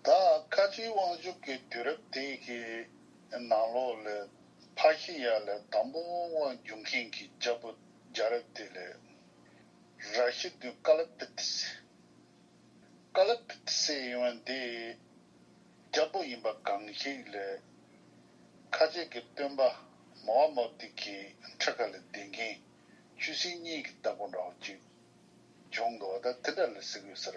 ད་བཀའ་ཁྲིའི་དབང་བསྒྱུར་གྱི་དུས་རབས་དེ་གའི་ནང་ལོགས་ལས་ཕ་ཤི་ཡ་ལས་དང་པོ་དབང་བསྒྱུར་མཁན་གྱི་རྒྱ་བོད་རྒྱ་རབས་དེ་ལས་ར་ཤི་བདུན་བཀའ་ལ་པིཏི་སེ། Kala Pitise། ཡིན་བ་འདི་རྒྱ་བོད་ཡིན་པ་གང་ཞིག་ལས་ཁ་ཆེ་གི་སྟོན་པ་མོ་ཨ་མོ་ཏི་གི་འཕྲེད་ཁ་ལས་འདས་མཁན་ཆུ་སྲིན་གཉིས་ཀྱི་བདག་པོ་འདྲ་བོ་ཅིག་བྱུང་འདུག་བ་ད་དེ་འདྲ་ལ་ཟེར་དགོས་ཟེར།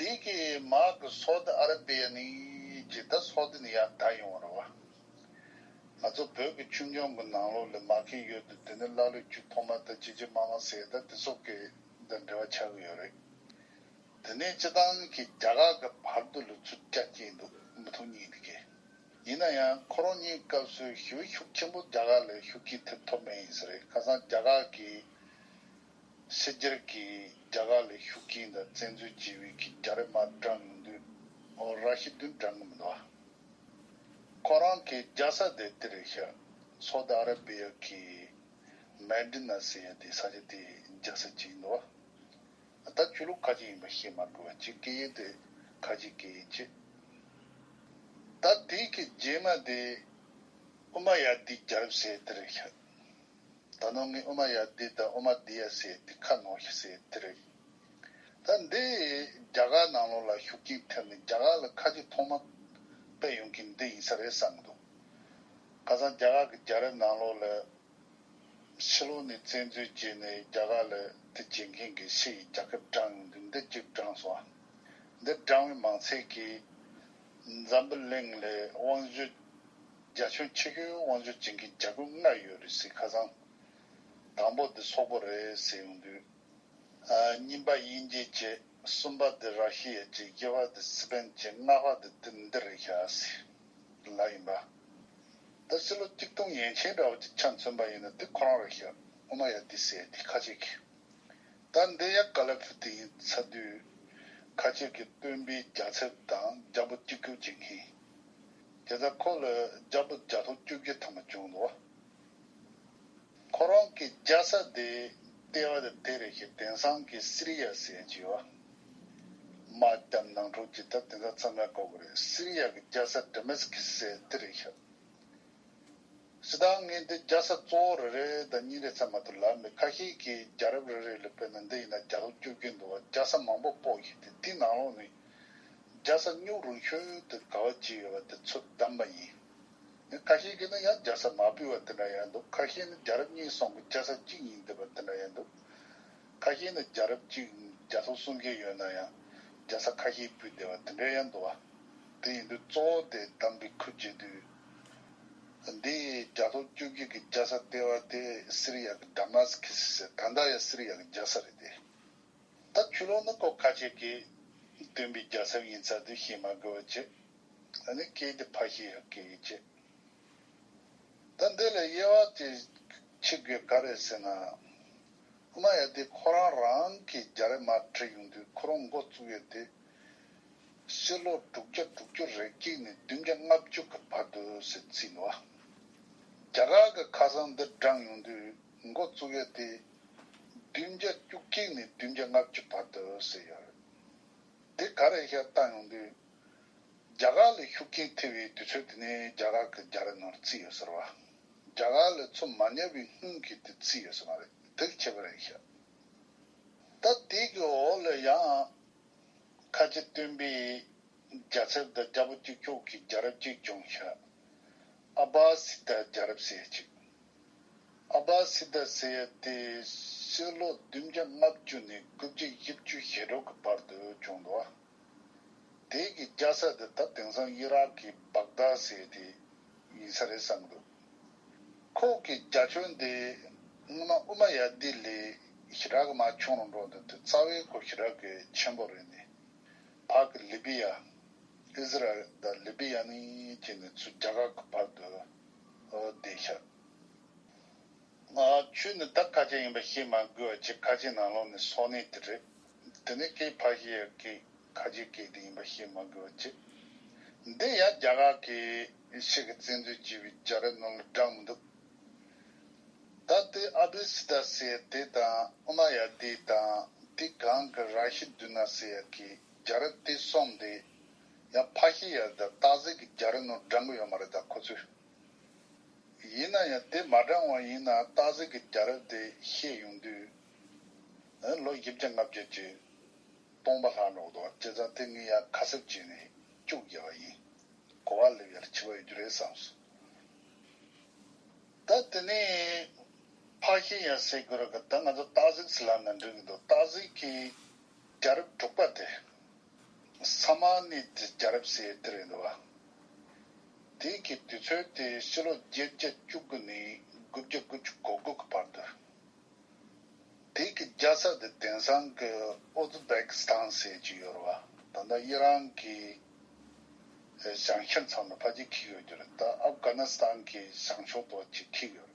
དེ་གའི་དམག་གི་སོད་ཨ་ར་པའི་ནི་ཇི་ལྟར་སོད་དེ་ནི་ཡང་དག་ཡོང་བར་བ། ང་ཚོ་བོད་ཀྱི་ཆུ་འགྱངས་གི་ནང་ལོག་ལས་མ་མཁན་ཡོད་དུ་དེ་ནི་ཀླ་ཀློས་རྒྱུ་ཐོག་མ་ད་ཇི་ཇི་མ་མ་ཟེར་ད་དེ་སོག་གི་ད་འབྲེལ་བ་ཆགས་གི་ཡོད་རེད། དེ་ནས་སྤྱི་བཏང་གི་རྒྱ་གར་གི་བར་དུ་ལུས་ཚུར་སྐྱ་སྐྱེས་འདུག་མི་ཐུག་གཉིས་འདི་གས། ཡིན་ན་ཡང་ཁོ་རང་གཉིས་སྐབས་སུ་ཞི་བའི་ཤུགས་ཆེན་པོ་རྒྱ་གར་ལས་ཤུགས་ཀྱིས་ཐེབས་ཐོབ་མེད་ཡིན་ས་རེད་ཁ་སང་རྒྱ་གར་གི། སྲིད་སྒེར་གྱིས་རྒྱ་གར་ལས་ཤུགས་ཀྱིས་མདའ་བཙན་འཛུལ་བྱེད་འོས་ཀྱི་རྒྱ་རི་དམར་བཀྲ་ངན་དུས་འོག་ར་ཤི་བདུན་བཀྲ་ངན་མདའ། ཁོ་རང་གི་རྒྱ་ས་དེ་དེ་རེད་ཤག་སོ་ཏི་ཨ་ར་བི་ཡ་གི་མན་དི་ནཱ་ཟེར་ཡ་དེ་ས་ཆ་དེ་རྒྱ་ས་གཅིག་ཡིན་མདའ། ད་ཆོས་ལུགས་ཁ་ཅིག་ཡིན་པ་ཤེས་མ་དགོས་པ་ཅིག་སྐད་ཡིག་དེ་ཁ་ཅིག་སྐད་ཡིག་ཅིག། ད་དེ་གི་རྗེས་མ་དེ་ཨུ་མ་ཡ་དི་རྒྱ་རི་བསད་དེ་རེད་ཤག། ད་ནོ་ངས་ཨུ་མ་ཡ་དེ་དང་ཨུ་མ་དེ་ཡ་ཟེར་དེ་ཁ་ནོར་ལྷི་ཟེར་དེ་རེད། ད་འདི་རྒྱ་གར་ནང་ལོགས་ལ་ཤུགས་རྐྱེན་ཐེབས་ནས་རྒྱ་གར་ལ་ཁ་ཆེ་ཐོག་མ་པས་ཡོང་གིན་འདི་ཡིན་ས་རེད་བསམ་གི་འདུག་ཁ་སང་རྒྱ་གར་གི་རྒྱ་རིགས་ནང་ལོགས་ལ་ཕྱི་ལོགས་ནས་བཙན་འཛུལ་བྱས་ནས་རྒྱ་གར་ལ་དེ་བྱེད་མཁན་གི་ཕྱི་ཡི་རྒྱ་ཁབ་བསྒྲང་ཡོང་གིན་འདི་གཅིག་བསྒྲང་སོང་ཨ། འདི་བསྒྲང་བའི་མང་ཚད་ཀྱིས་འཛམ་བུ་གླིང་ལ་དབང་བཞུད་རྒྱ་ཆུང་ཆེ་གེའུ་དབང་ཆུང་ཅན་གྱི་རྒྱ་ཁུ་ལྔ་ཡོད་རེད་ཟེར་ཁ་སང། དང་པོ་འདི་སོག་པོ་རེད་ཟེར་ཡོང་དུས། གཉིས་པ་དབྱིན་སྐད་བཅས་གསུམ་པ་འདི་ར་ཤི་ཡ་བཅས་བརྒྱད་པ་འདི་སི་པན་བཅས་ལྔ་པ་འདི་དི་མདི་རེད་ཤ་སི་ལ་ཡིན་པ། འདི་སི་ལོ་གཅིག་སྟོང་ཡན་ཆད་འདྲ་བོ་ཅིག་ཆ་མཚོན་པ་ཡིན་ན་དི་ཁོ་རང་རེད་ཤ་ཨོ་མ་ཡ་དི་སེ་དི་ཁ་ཆེ་གི། ད་འདི་ཡ་ཀ་ལེ་ཕུ་དི་ཡིན་ཚ་དུས། ཁ་ཆེ་གི་སྟོན་པའི་རྒྱ་ཚེབ་དང་རྒྱ་པོ་གཅིག་གྱུར་བྱེད་མཁན། དེ་ཚེ་འཁོར་ལོའི་རྒྱ་བུ་བརྒྱ་སྟོང་བཅུ་བརྒྱད་ཐ་མ་བྱུང་ལ། ཁོ་རང་གི་རྒྱ་ས་དེའི་ལྟེ་བ་དེ་དེ་རེ་ཞིག་དེང་སང་གི་སི་རི་ཡ་ཟེར་གྱི་ཡོད། མ་སྐྱབས་ནང་འཁྲུག་ཅིག་ད་དེང་སང་ཚང་མས་གོ་གི་རེད་སི་རི་ཡ་གི་རྒྱ་ས་དེ་མེ་སི་ཁི་ཟེར་དེ་རེད་ཤག། ཞེ་སྡང་ངས་འདི་རྒྱ་ས་གཙོ་བོ་རེ་རེ་དང་གཉིས་རེ་ཚང་མ་ཐུབ་ལ་མི་ཁ་ཤས་ཀྱིས་རྒྱ་རབས་རེ་རེ་ལ་བོད་ནང་འདི་ཡིན་ན་རྒྱ་ལོ་བཅུ་བརྒྱད་འདུག་བ་རྒྱ་ས་མང་པོ་སྤོ་ཞིག་དེ་དེའི་ནང་ལོགས་ནས་རྒྱལ་ས་སྨྱུག་རོང་ཤོད་དུ་ག་བ་གཅིག་ཡོད་པ་དེ་ཚོ་བདམས་པ་ཡིན། ཡང་ཁ་ཤས་ཀྱིས་ནི་ཡང་རྒྱལ་ས་མ་བུད་བ་དེ་འདྲ་ཡང་འདུག་ཁ་ཤས་ནི་རྒྱལ་རབས་གཉིས་སོང་གི་རྒྱལ་ས་གཅིག་ཡིན་འདོད་པ་དེ་འདྲ་ཡང་འདུག་ཁ་ཤས་ནི་རྒྱལ་རབས་གཅིག་རྒྱལ་ཐོག་གསུམ་བརྒྱད་ཡོད་ན་ཡང་རྒྱལ་ས་ཁ་ཤས་བུད་བསྡད་པ་དེ་འདྲ་ཡང་འདུག་བ། དེ་ཡིན་དུས་གཙོ་བོ་དེ་བདམས་པའི་ཁུལ་བྱེད་དུས། འདི་རྒྱལ་ཐོག་བཅོ་བརྒྱད་ཀྱི་རྒྱལ་ས་ལྟེ་བ་དེ་སི་རི་ཡ་གི Damascus ཟེར་ད་ལྟ་ཡང་སི་རི་ཡ་གི་རྒྱལ་ས་རེད་དེ། ད་ཆུ་ལོག་ནི་ཀོ་ཁ་ཆེ་གེ། སྟོན་པའི་རྒྱལ་ཚབ་ཡིན་ཚ་དུས་ཤེས་མ་དགོས་བ་ཅི། ད་ནི་སྐད་འདི་ཕ་ཤེས་ཡག་གེ་ཡི་ཅི། ད་འདི་ལས་དབྱེ་བ་དེ་ཕྱི་དགོས་ག་རེད་ཟེར་ན། ཨ་མ་ཡ་དེ་ཁོ་རང་རང་གི་རྒྱ་རེ་མར་ཁྲིད་ཡོང་དུས་ཁོ་རང་འགོ་བཙུགས་ཡོད་དེ། ཕྱི་ལོ་དྲུག་བརྒྱ་དྲུག་ཅུ་རེ་གཅིག་ནས་བདུན་བརྒྱ་ལྔ་བཅུ་གི་བར་དུ་ཟེར་ཚུལ་ལོ། རྒྱ་གར་གི་ཁ་སང་འདི་བགྲངས་ཡོང་དུས་འགོ་བཙུགས་ཡོད་དེ། བདུན་བརྒྱ་བཅུ་གཅིག་ནས་བདུན་བརྒྱ་ལྔ་བཅུ་བར་དུ་ཟེར་ཡོད་རེད། དེ་ག་རེད་ཤག་བལྟ་ཡོང་དུས། རྒྱ་གར་ལས་ཤུགས་རྐྱེན་ཐེབས་པའི་དུས་ཚོད་དེ་ནི་རྒྱ་གར་གྱི་རྒྱ་རི་ནོར་བརྩིས་ཡོད་ཟེར་བ། རྒྱ་གར་ལས་ཚོ་མ་ཉར་བའི་སྔོན་གྱི་དུས་བརྩིས་ཡོད་ཟེར་མ་རེད་དེག་ཆད་པ་རེད་ཤག། ད་དེ་གི་འོག་ལས་ཡང། ཁ་ལྕེ་སྟོན་པས་རྒྱ་ཚེར་དང་རྒྱ་པོ་གཅིག་ཆོག་གི་རྒྱ་རབས་གཅིག་བྱུང་ཤག། ཨ་བྷ་སི་ཏར་རྒྱ་རབས་ཟེར་ཅིག། ཨ་བྷ་སི་ཏཱ་སེ་ཡ་ཏི་ཕྱི་ལོ་བདུན་བརྒྱ་ལྔ་བཅུ་ནས་དགུ་བརྒྱ་ཡི་བཅུ་ཞེ་དྲུག་གི་བར་དུ་བྱུང་འདུག་དེའི་གི་རྒྱ་ས་དེ་ད་དེང་སང་དབྱི་རག་གི་བྷག་དཱ་ཟེར་བ་དེ་ཡིན་ས་རེད་བསམ་འདུག་ཁོག་གི་རྒྱ་ཁྱོན་དེ་སྔོན་མ་ཨུ་མ་ཡ་ཏི་ལི་ཞི་རག་གི་མ་ཆུང་རུ་འགྲོ་འདུག་དེ་རྩ་བའི་སྐོར་ཞི་རག་གི་ཆེན་པོ་རེད་ནི་བྷག་གི་ལི་བི་ཡ། Israel དང Libya ནི་བཅས་ནས་ཚུ་རྒྱ་གར་གི་བར་དུ་བདེ་ཆགས། ཆོས་ནི་བདག་ཁ་ཅན་ཡིན་པ་ཤེས་མ་དགོས་བ་ཇི་ཁ་ཅན་ནང་ལོག་ནས་སོག་ནས་དེ་རེད། དེ་ནས་སྐད་ཕ་ཤི་ཡ་སྐད་ཁ་ཆེ་སྐད་དེ་ཡིན་པ་ཤེས་མ་དགོས་བ་ཅི། འདི་ཡ་རྒྱ་གར་གི་ཤེས་གི་བཙན་འཛུལ་བྱས་པའི་རྒྱ་རི་ནོར་ལ་བསྒྲགས་མི་འདུག། ད་ལྟའི་ཨ་བྷི་སི་ད་ཟེར་ཡ་དེ་དང་ཨོ་ན་ཡ་དེ་དང་དེ་གང་གི་ར་ཤི་དུས་ན་ཟེར་ཡ་གི་རྒྱ་རི་དེ་གསུམ་དེ་ཡང་ཕ་ཤི་ཡར་ད་སྟག་གཟིག་གི་རྒྱ་རི་ནོར་བགྲང་གི་ཡོད་མ་རེད་ད་ཁོ་ཚོས། ཡིན་ན་ཡང་དེ་མ་བགྲང་བ་ཡིན་ན་སྟག་གཟིག་གི་རྒྱ་རི་དེ་ཤེས་ཡོང་དུས། ལོ་བཞི་བརྒྱ་ལྔ་བརྒྱ་ཀྱི་སྟོང་པ་ལྷག་འགྲོ་གདོང་བྱས་ཙང་དེ་ངས་ཡང་ཁ་གསབ་བྱས་ནས་བཅུག་རྒྱལ་བ་ཡིན་གོ་བ་ལེབ་ཡར་འཆི་བ་ཡོད་རྒྱུ་རེད་བསམས་སོང། ད་དེ་ནས་ཕ་ཤི་ཡར་ཟེར་དགོས་ར་གི་ད་ང་ཚོ་སྟག་གཟིག་སི་ལ་ན་འགྲིག་གི་འདུག་སྟག་གཟིག་གི་རྒྱ་རི་འབྲུག་པ་དེ། ས་དམར་ནི་རྒྱལ་རབས་སའི་གཏེར་ཡིན་ལ། དེ་གའི་དུས་ཚོད་དེ་ཕྱི་ལོ་བརྒྱད་བརྒྱད་བཅུ་དགུ་ནས་དགུ་བརྒྱ་དགུ་བཅུ་གོ་དགུ་གི་བར་དུ། དེ་གའི་རྒྱལ་ས་དེ་དེང་སང་གི་ཨོ་ཛི་བེག་སི་ཐང་ཟེར་གྱི་ཡོད་རེད་བ། ད་ལྟ་དབྱི་རང་གི་ཞང་ཤེས་མཚམས་ལ་ཕ་གཅིག་འཁེལ་ཡོད་རྒྱུ་རེད་ད་ཨབ་གྷ་ནི་སི་ཐང་གི་ཞང་ཕྱོགས་དོག་གཅིག་འཁེལ་ཡོད་རེད།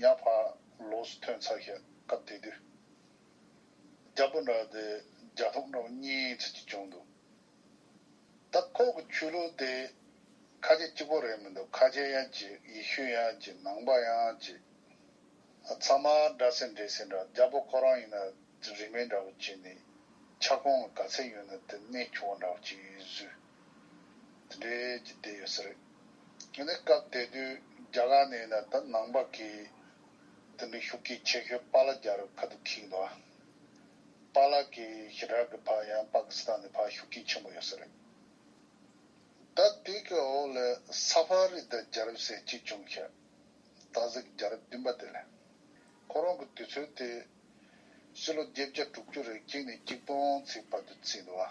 ཡར་ཕར་ལོགས་སུ་ཐོན་ཚར་ཞིག་སྐབས་དེ་དུས། རྒྱ་སྤུ་འདྲ་བ་དེ་རྒྱ་ལྷོག་འདྲ་བོ་གཉིས་ཚུད་ཀྱིས་བྱུང་འདུག་ད། ཁོག་གི་ཆུ་ལུད་དེ་ཁ་ཆེ་གཅིག་པོ་རེད་མི་འདུག་ཁ་ཆེ་ཡང་གཅིག་ཡེ་ཤུ་ཡང་གཅིག་ནང་པ་ཡང་གཅིག། ཚང་མ་འདྲ་སེ་འདྲེས་སེ་འདྲ་རྒྱ་སྤུ་ཁོ་རང་ཡིན་ན་རིན་མེད་འདྲ་བོ་གཅིག་ནས་ཆ་ཁོང་གི་ག་ཚད་ཡོད་ན་དེ་གནས་ཆུ་བོ་འདྲ་བོ་གཅིག་བཟོས། དེ་འདྲའི་རྒྱུ་བསྡད་ཡོད་ས་རེད། ངས་ནི་སྐབས་དེ་དུས་རྒྱ་གར་ནས་ཡིན་ན་ད་ནང་པ་གིས་དེ་འདྲའི་ཤུགས་ཀྱིས་ཆེ་ཤོས་པཱ་ལགས་རྒྱ་རུ་ཁ་ཐུག་ཁིག་འདུག་ཨ། པཱ་ལགས་ཀྱི་ཞི་དྲག་གི་བར་ཡང་པཱ་ཀི་སི་ཐན་ནས་བར་ཤུགས་རྐྱེན་ཆེན་པོ་ཡོད་ས་རེད། ད་དེ་གི་འོག་ལས་ས་ཕཱ་རི་དང་རྒྱ་རབས་ཟེར་གཅིག་བྱུང་ཤག་ད་གཟིགས་རྒྱ་རབས་བདུན་པ་དེ་ལས། ཁོ་རང་གི་དུས་ཚོད་དེ། སྤྱི་ལོ་བརྒྱད་བརྒྱ་དྲུག་ཅུ་རེ་གཅིག་ནས་གཅིག་སྟོང་ཚིགས་བར་དུ་བརྩིས་འདུག་ཨ།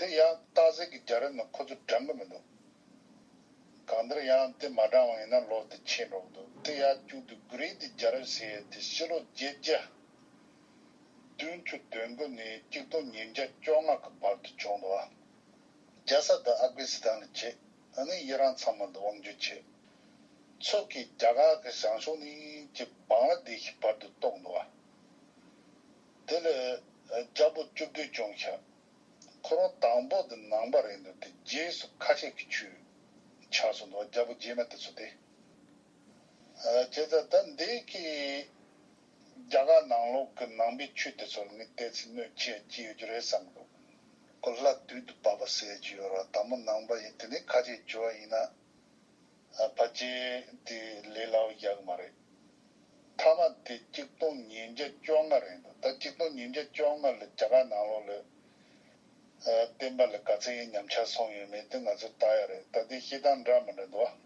དེ་ཡག་རྟགས་གཟིགས་ཀྱི་རྒྱ་རིགས་ནི་ཁོ་ཚོ་དྲན་གི་མི་འདུག་གང་ལྟར་ཡང་དེ་མ་དྲངས་བ་ཡིན་ན་ལོ་དེ་ཕྱེད་འགྲོ་གི་འདུག་དེ་ཡག་བཅུག་དུས་གུ་རིས་དེ་རྒྱ་རིགས་ཟེར་ཡས་དེ་ཕྱི་ལོ་བརྒྱད་བརྒྱ་བདུན་ཅུ་དོན་དགུ་ནས་གཅིག་སྟོང་ཉིས་བརྒྱ་བཅོ་ལྔ་གི་བར་དུ་བྱུང་འདུག་ཨ་རྒྱ་ས་དང་ཨབ་གྷི་སི་ཐན་ལ་བྱེད་ཨ་ནི་དབྱི་རང་ཚང་མ་འདི་དབང་བསྒྱུར་བྱེད་ཚོད་ཀྱིས་རྒྱ་གར་གི་ཞང་ཞུང་ནས་ཀྱི་བང་ལ་སྡེ་ཤི་བར་དུ་གཏོགས་འདུག་ཨ། དེ་ལས། རྒྱལ་པོ་བཅུ་བདུན་སྐྱོང་བྱ། འཁོར་བ་དང་པོ་འདི་ནང་པ་རེད་འདུག་སྟེ་རྗེས་སུ་ཁ་ཆད་ཀྱི་ཆུ། ཆགས་སུ་འདུག་རྒྱལ་པོ་རྗེས་མ་དེ་ཚོ་སྟེ། བྱས་ཙང་ད་འདི་གི། རྒྱ་གར་ནང་ལོག་གི་ནང་པའི་ཆོས་དེ་ཚོར་ངས་བལྟས་ཚེ་གནོད་བྱེད་ཅི་ཡོད་རྒྱུ་རེད་བསམ་འདུག། གོ་སླ་དུས་འདི་བབ་པ་ཟེར་གྱི་ཡོད་ར་ད་མོ་ནང་པ་ཡིན་དེ་ནས་ཁ་ཆད་བྱོས་བ་ཡིན་ན། ཕ་རྗེས་དེ་ལས་ལའོ་རྒྱག་མ་རེད། མཐའ་མ་དེ་གཅིག་སྟོང་ཉིས་བརྒྱ་བཅོ་ལྔ་རེད་འདུག་ད་གཅིག་སྟོང་ཉིས་བརྒྱ་བཅོ་ལྔ་ལ་རྒྱ་གར་ནང་ལོག་ལོས་བསྟན་པ་ལ་དགའ་ཚལ་ཡིན་ཉམས་ཆག་སོང་ཡོད་མེད་དེ་ང་ཚོས་བལྟ་ཡག་རེད་ད་དེ་སྐྱིད་སྟངས་འདྲ་མི་འདྲ་འདུག་ཨ།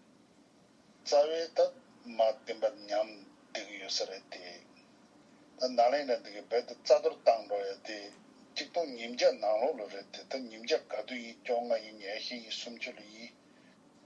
རྩ་བའི་ད་མ་བསྟན་པ་ཉམས་བསྡད་གི་ཡོད་ས་རེད་དེ། ད་ནག་ལེན་འདྲ་འདི་གི་རྦད་དེ་རྩ་གཏོར་བཏང་འགྲོ་ཡ་དེ་གཅིག་སྟོང་ཉིས་བརྒྱ་ནང་ལོག་ལོས་རེད་དེ་ད་ཉིས་བརྒྱ་ག་དུས་ཡིན་བཅོ་ལྔ་ཡིན་ཉེར་བཞི་ཡིན་སུམ་ཅུ་ལོ་ཡིན།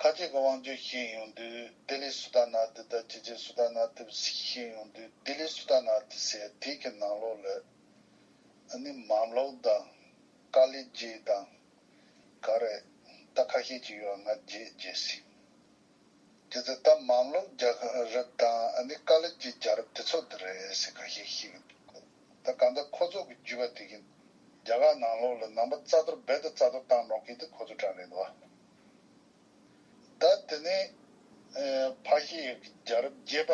ཁ་སྐྱེད་ཀྱི་དབང་བསྒྱུར་ཤེས་ཡོང་དུས་ལྡི་ལི་སུ་ཏཱ་ན་ཏི་ལྟར་སྤྱི་རྒྱའི་སུ་ཏཱ་ན་ཏི་བ་ཞིག་ཤེས་ཡོང་དུས་ལྡི་ལི་སུ་ཏཱ་ན་ཏི་ཟེར་དུས་ཀྱི་ནང་ལོགས་ལས་ཨ་ནི་མམ་ལོག་དང་ཀ་ལི་རྗེ་དང་ག་རེ་ད་ཁ་ཤས་ཅིག་ཡོད་ང་རྗེས་བརྗེད་ཟིན། དེ་ཚོ་ད་མམ་ལོག་རྒྱ་རབས་དང་ཨ་ནི་ཀ་ལི་རྗེ་རྒྱ་རབས་དེ་ཚོ་དེ་རེད་ཟེར་ཁ་ཤས་ཤིག་འདུག་གོ། ད་ག་འདི་ཁོ་ཚོ་གི་རྒྱུད་པ་དེ་གིན། རྒྱ་གར་ནང་ལོག་ལ་ནང་པ་རྩ་གཏོར་རྦད་དུ་རྩ་གཏོར་བཏང་རོགས་གིན་དེ་ཁོ་ཚོ་དྲང་རེད་འདུག་ཨ། ད་དེ་ནི་ཕ་ཤི་ཡག་གི་རྒྱ་རབ་རྒྱས་པ་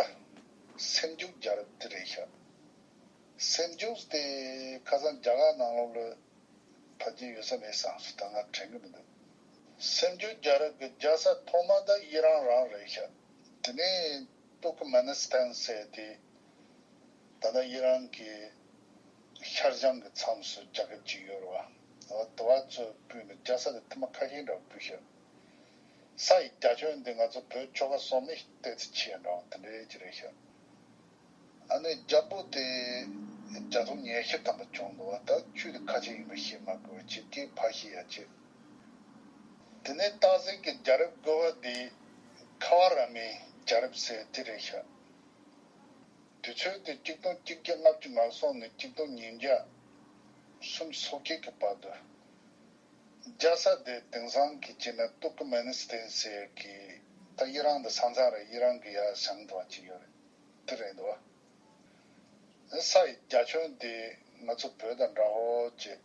སེམས་འཇུག་རྒྱ་རབ་དེ་རེད་ཤག། སེམས་འཇུག་སྟེ་ཁ་སང་རྒྱ་གར་ནང་ལོག་ལ་ཕ་རྒྱས་ཡོད་ས་མེད་སང་ཞིག་ད་ང་དྲན་གི་མི་འདུག་སེམས་འཇུག་རྒྱ་རབ་གི་རྒྱ་ས་ཐོག་མ་ད་ཡི་རང་རང་རེད་ཤག་དེ་ནི། ཏུར་ཀི་མེ་ནི་སྟན་བསད་དེ། ད་ལྟ་ཡི་རང་གི་ཤར་བྱང་གི་མཚམས་སུ་རྒྱ་ཁབ་ཅིག་ཡོད་རེད་བ། ད་བར་དུ་བ་ཚོས་སྤུས་ནས་རྒྱ་ས་ལས་ཐུ་མ་ཁ་ཤས་འདྲ་བ་སྤུས་ཤག། ས་ཡི་རྒྱ་ཁྱོན་འདི་ང་ཚོ་བོད་ཆོལ་ཁ་སོག་མིག་སྟེ་ཚི་ཆེ་འདྲ་བ་དེ་འདྲའི་གྱི་རེད་ཤག། ཨ་ནི་རྒྱ་སྤུ་དེ་རྒྱ་ཚོང་ཉལ་ཤི་ཐམ་པ་བྱུང་འདུག་བ་ད་ཆུས་དེ་ཁ་ཆེ་ཡིན་པ་ཤེས་མ་དགོས་བ་ཆེ་གེ་ཕ་ཤི་ཡ་ཆེ། དེ་ནས་སྟག་གཟིག་གི་རྒྱ་རབས་བཀོལ་བ་འདི། ཁ་བ་ར་མའི་རྒྱ་རབས་ཟེར་ཏེ་རེད་ཤག། དུས་ཚོད་དེ་གཅིག་སྟོང་གཅིག་བརྒྱ་ལྔ་བཅུ་ནར་སོང་ནས་གཅིག་སྟོང་ཉིས་བརྒྱ་གསུམ་སོ་བརྒྱད་ཀྱི་བར་དུ། རྒྱ་ས་དེ་དེང་སང་གི་སྤྱིར་ན་ཏུར་ཀི་མེ་ནི་སི་ཐན་ཟེར་གི་ད་དབྱི་རང་དང་ས་མཚང་རེད་དབྱི་རང་གི་ཡ་ཞང་དང་བ་གཅིག་ཡོད་རེད་དེ་རེད་འདུག་བ། ས་ཡི་རྒྱ་ཁྱོན་འདི་ང་ཚོ་བོད་དང་འདྲ་ཧོ་ཅེས།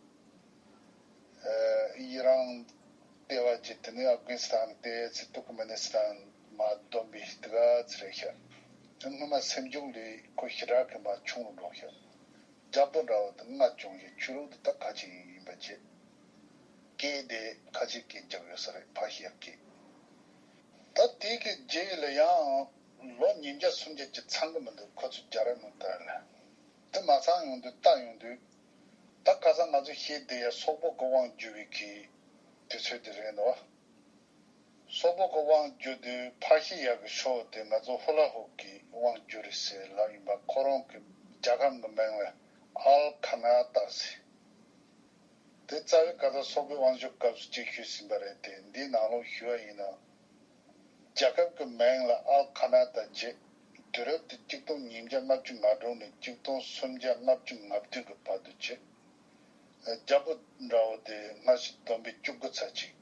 ཡི་རངས་ལྟེ་བ་ཅན་དེ་ནི་ཨབ་གྷན་སི་ཐན་ཏེ་ཚེ་ཏུར་ཀི་མེ་ནི་སི་ཐན་མ་བསྡོམས་པའི་དི་ག་ཚི་རེད་ཤག་སྔོན་མ་སེམས་སྐྱོང་ལས་ཁོ་ཞི་དྲག་གི་མ་ཆུང་ལ་འགྲོགས་ཤག་རྒྱ་བཟློ་འདྲ་བོ་དི་ང་སྐྱོང་ཞིག་ཆོས་ལུགས་འདི་དག་ཁ་ཆེ་ཡིན་པ་བྱས་སྐད་དེ་ཁ་ཆེ་སྐད་རྒྱག་ཡོད་ས་རེད་ཕ་ཞེ་ཡག་སྐད། ད་དེ་གི་རྗེས་ལ་ཡང་ལོ་ཉིས་བརྒྱ་སུམ་བརྒྱ་གྱིས་ཚང་གི་མི་འདུག་ཁོ་ཚོས་རྒྱ་ར་མི་དར་ལ། དེ་མ་ཚང་ཡོང་དུས་ལྟ་ཡོང་དུས། ད་སྐ་ས་ང་ཚོས་ཤེས་བསྡད་ཡ་སོག་པོ་ཀོ་དབང་བསྒྱུར་བའི་གི་དུས་ཚོད་དེ་རེད་འདུག། སོག་པོ་ཀོ་དབང་བསྒྱུར་དུས་ཕར་ཤི་ཡག་གི་ཤོག་དེ་ང་ཚོ་ཧུ་ལ་ཧུག་གི་དབང་བསྒྱུར་རེད་ཟེར་ལབ་ཡིན་པ་ཁོ་རང་གི་རྒྱ་ཁམས་གི་མིང་ལ་ཨལ་ཁ་ན་བཏགས་ཟེར། དེ་རྩ་བའི་སྐ་ས་སོག་པོའི་དབང་བསྒྱུར་སྐབས་སུ་གཅིག་ཞུས་ཟིན་པ་རེད་དེ་འདིའི་ནང་ལོག་ཞུས་བ་ཡིན་ན་རྒྱལ་ཁབ་ཀྱི་མིང་ལ་ཨལ་ཁ་ན་ད་བརྗེས། དུས་རབས་དེ་སྐྱིད་སྟོང་ཉིས་བརྒྱ་ལྔ་བཅུ་ང་དྲུག་ནས་སྐྱིད་སྟོང་སུམ་བརྒྱ་ལྔ་བཅུ་ང་བདུན་གྱི་བར་དུ་བརྗེས། རྒྱ་པོ་འདྲ་བོ་དེ་སྔ་ཕྱི་བསྡོམས་པས་བཅུ་དགུ་ཚར་གཅིག།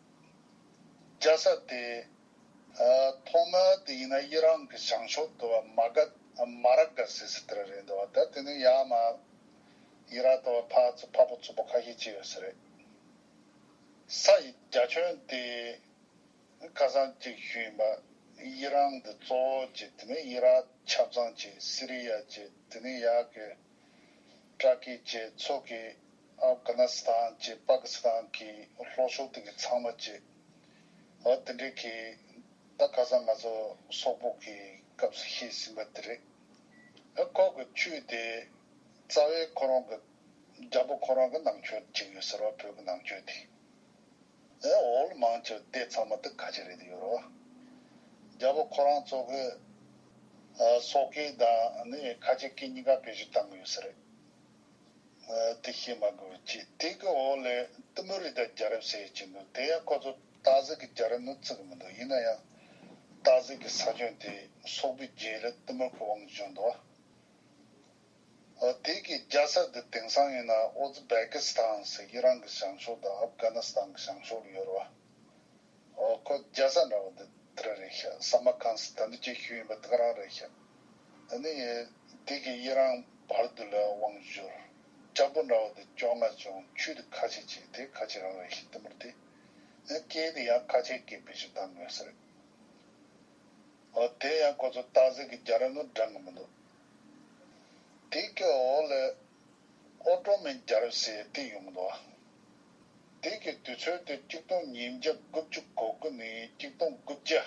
རྒྱ་ས་དེ། ཐོག་མ་དེ་ཡིན་ན་དབྱི་རང་གི་བྱང་ཕྱོགས་དུ་བ་མ་ག་མ་ར་ག་ཟེར་སྲིད་དེ་ར་རེད་འདུག་བ་ད་དེ་ནས་ཡ་མ་དབྱི་ར་དུ་བ་ཕག་ཚོ་ཕག་པོ་ཚོ་པོ་ཁ་ཤས་སྐྱེས་ཡོད་ས་རེད། ས་ཡི་རྒྱ་ཁྱོན་དེ། ཁ་སང་གཅིག་ཞུས་ཡིན་པ་དབྱི་རང་གི་གཙོ་བོ་གཅིག་དེ་ནི་དབྱི་རག་ཆབ་ཚང་གཅིག་སི་རི་ཡ་གཅིག་དེ་ནི་ཡག་གི་ཏྲ་ཀི་གཅིག་མཚོ་གི་ཨབ་གྷ་ན་སི་ཐང་གཅིག་པ་ཀི་སི་ཐང་གི་ལྷོ་ཕྱོགས་སྟེང་གི་ཚང་མ་གཅིག་ཨོ་དེ་འདྲའི་གི་ད་ཁ་སང་ང་ཚོ་སོག་པོ་གི་སྐབས་སུ་ཤེས་ཟིན་པ་དེ་རེད་ཨ་ཁོག་གི་ཆུས་དེ་རྩ་བའི་ཁོ་རང་གི་རྒྱ་པོ་ཁོ་རང་གི་ནང་ཆོས་གཅིག་ཡོད་ཟེར་བ་བོད་གི་ནང་ཆོས་དེ། ཨེ་ཨོལ་མང་ཆོས་སྡེ་ཚང་མ་དུ་ཁ་ཆེ་རེད་ཡོད་རོ། རྒྱལ་པོ་ཁོ་རང་གཙོ་གི། སོག་སྐད་དང་ནི་ཁ་ཆེ་སྐད་གཉིས་ཀ་བེད་སྤྱོད་བཏང་གི་ཡོད་ས་རེད། དེ་ཤེས་མ་དགོས་པའི་ཆེད་དེ་གི་འོག་ལས་ཏི་མོ་རི་ད་རྒྱ་རབ་ཟེར་ཡོད་ཀྱི་འདུག་དེ་ཡང་ཁོ་ཚོ་ཏཱ་ཟིག་གི་རྒྱ་རབ་ནི་བརྩི་གི་མི་འདུག་ཡིན་ན་ཡང། ཏཱ་ཟིག་གི་ས་ཁྱོན་དེ་སོག་པོའི་རྒྱའི་ལས་ཏི་མོར་གི་དབང་བཞུགས་འདུག། དེ་གའི་རྒྱལ་ས་དེ་དེང་སང་ཡིན་ན་ཨོ་ཛི་བེ་ཀི་སི་ཐང་ཟེར་གྱི་རང་གི་བྱང་ཕྱོགས་དང་ཨབ་གྷ་ནི་སི་ཐང་གི་བྱང་ཕྱོགས་ལ་ཡོད་རེད་བ། ཨོ་ཁོ་རྒྱལ་ས་འདྲ་བ་འདི་དེ་ར་རེད་ཤག་ས་མ་ཁང་སི་ཐན་དུ་ཀྱི་ཤུལ་ཡིན་པ་དེ་ག་རང་རེད་ཤག་དེ་ནི་ཡེ་དེ་གའི་ཡེ་རང་བར་དུ་ལ་དབང་བཞུར་ལྕགས་པོ་འདྲ་བ་དེ་བཅོ་ལྔ་བྱུང་ཆུས་དེ་ཁ་ཆེ་ཆེ་དེ་ཁ་ཆེ་རང་རེད་ཤག་དེ་མུར་དེ་ནི་སྐད་དེ་ཡང་ཁ་ཆེ་སྐད་བེད་ཤུ་ཐང་ངོས་ཟེར་རེད་བ། དེ་ཡང་ཁོ་ཚོ་སྟག་གཟིག་གི་རྒྱ་ར་ངུ་འདྲ་ངུ་མི་འདུག་དེ་ཀའི་འོག་ལས། ཨོ་ཏྲོ་མན་རྒྱལ་རབས་ཟེར་དེ་ཡོང་ལོ། དེ་ཀའི་དུས་ཚོད་དེ་སྐྱིག་སྟོང་ཉིས་བརྒྱ་དགུ་བཅུ་གོ་དགུ་ནས་སྐྱིག་སྟོང་དགུ་བརྒྱ།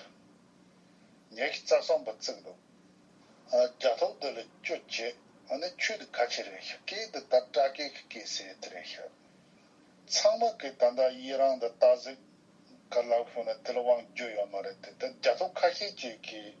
ཉལ་ཁི་རྩ་བཟང་པོ་བརྩིགས་འདུག་རྒྱ་ཐོག་དེ་ལ་སྐྱོད་བྱེད་ནི་ཆོས་དུ་ག་ཆེ་རེད་ཤག་ཀེ་འདི་ལྟར་སྐྲ་ཀེ་ཁི་ཀེ་ཟེར་དེ་རེད་ཤག། ཚང་མ་གིས་ད་ལྟ་ཡི་རང་དུ་སྟག་གཟིག་ག་ལག་ཤོར་ན་དེ་ལ་དབང་བསྒྱུར་ཡོད་མ་རེད་དེ་ལྟར་རྒྱ་ཐོག་ཁ་ཤས་ཀྱིས་ཀྱིས།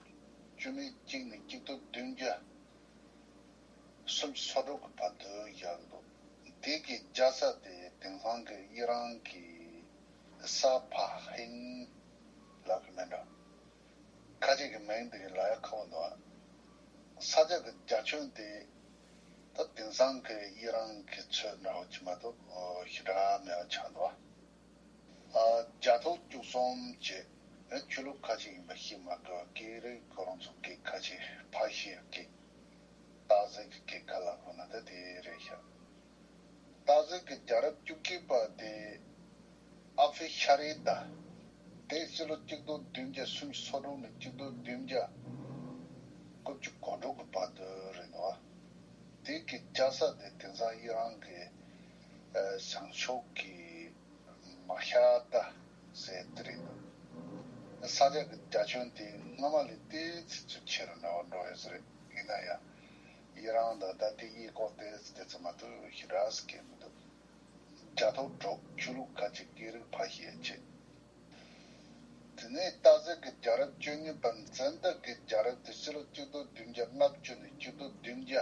བཅུ་ནི་གཅིག་ནས་གཅིག་ཏུ་བདུན་བརྒྱ། སུམ་ཅུ་སོ་དྲུག་གི་བར་དུ་བཞག་འདུག་འདི་གའི་རྒྱ་ས་དེ་དེང་སང་གི་དབྱི་རང་གི་ས་ཕ་ཧིན་ལགས་ཀྱི་མིང་འདྲ། ཁ་ཅིག་གི་མིང་འདི་གའི་ལ་ཡ་ཁ་བོ་འདུག་ཨ། ས་ཆ་གི་རྒྱ་ཁྱོན་དེ་ད་དེང་སང་གི་དབྱི་རང་གི་ཚོས་འདྲ་བོ་གྱི་མ་གཏོགས་ཞི་དྲག་མེད་པ་ཆགས་འདུག་ཨ། རྒྱ་ཐོག་བཅུ་གསུམ་བཅས་ནི་ཆོས་ལུགས་ཁ་ཆེ་ཡིན་པ་ཤེས་མ་དགོས་པ་ཀྱི་རིགས་ཁོ་རང་ཚོ་གི་ཁ་ཆེ་ཕ་ཤེལ་གྱི་སྟག་གཟིག་གི་ཁ་ལག་ཁོ་ན་ད་དེ་རེད་ཤག་སྟག་གཟིག་གི་རྒྱ་རབས་བཅུ་གཅིག་པ་དེ་ཨ་ཕི་ཤ་རེད་ད་དེ་སྲིད་ལོ་གཅིག་སྟོང་བདུན་བརྒྱ་སུམ་ཅུ་སོ་དྲུག་ནས་གཅིག་སྟོང་བདུན་བརྒྱ་དགུ་བཅུ་གོ་དྲུག་གི་བར་དུ་རེད་ནོ། དེ་གི་སྐྱ་ས་དེ་དེང་སང་ཡི་རང་གི་བྱང་ཕྱོགས་ཀྱི་མ་ཤ་ཏ་ཟེ་དེ་རེད་འདུག་ས་ཆ་གི་རྒྱ་ཁྱོན་དེ་སྔོན་མ་ལས་དེ་ཚིག་ཚུད་ཆེ་རུ་ན་བ་འགྲོ་ཡོད་ས་རེད་ཡིན་ན་ཡང་ཡི་རང་དང་ད་ལྟའི་ཡེ་ཀོག་དེ་དེ་ཚོ་མ་ཐུ་ཤི་ར་ས་ཁེལ་མི་འདུག་རྒྱ་ཐོག་གྲོགས་ཆོས་ལུགས་ཁ་ཅིག་སྐད་རིགས་ཕ་ཤེད་ཆེད་དེ་ནས་ཏཱ་ཟེ་གི་རྒྱ་རབས་བཅུ་གཉིས་པ་མཚན་རྟགས་ཀྱི་རྒྱ་རབས་དེ་སྤྱི་ལོ་གཅིག་སྟོ་བདུན་བརྒྱ་ལྔ་བཅུ་ནས་གཅིག་སྟོ་བདུན་བརྒྱ་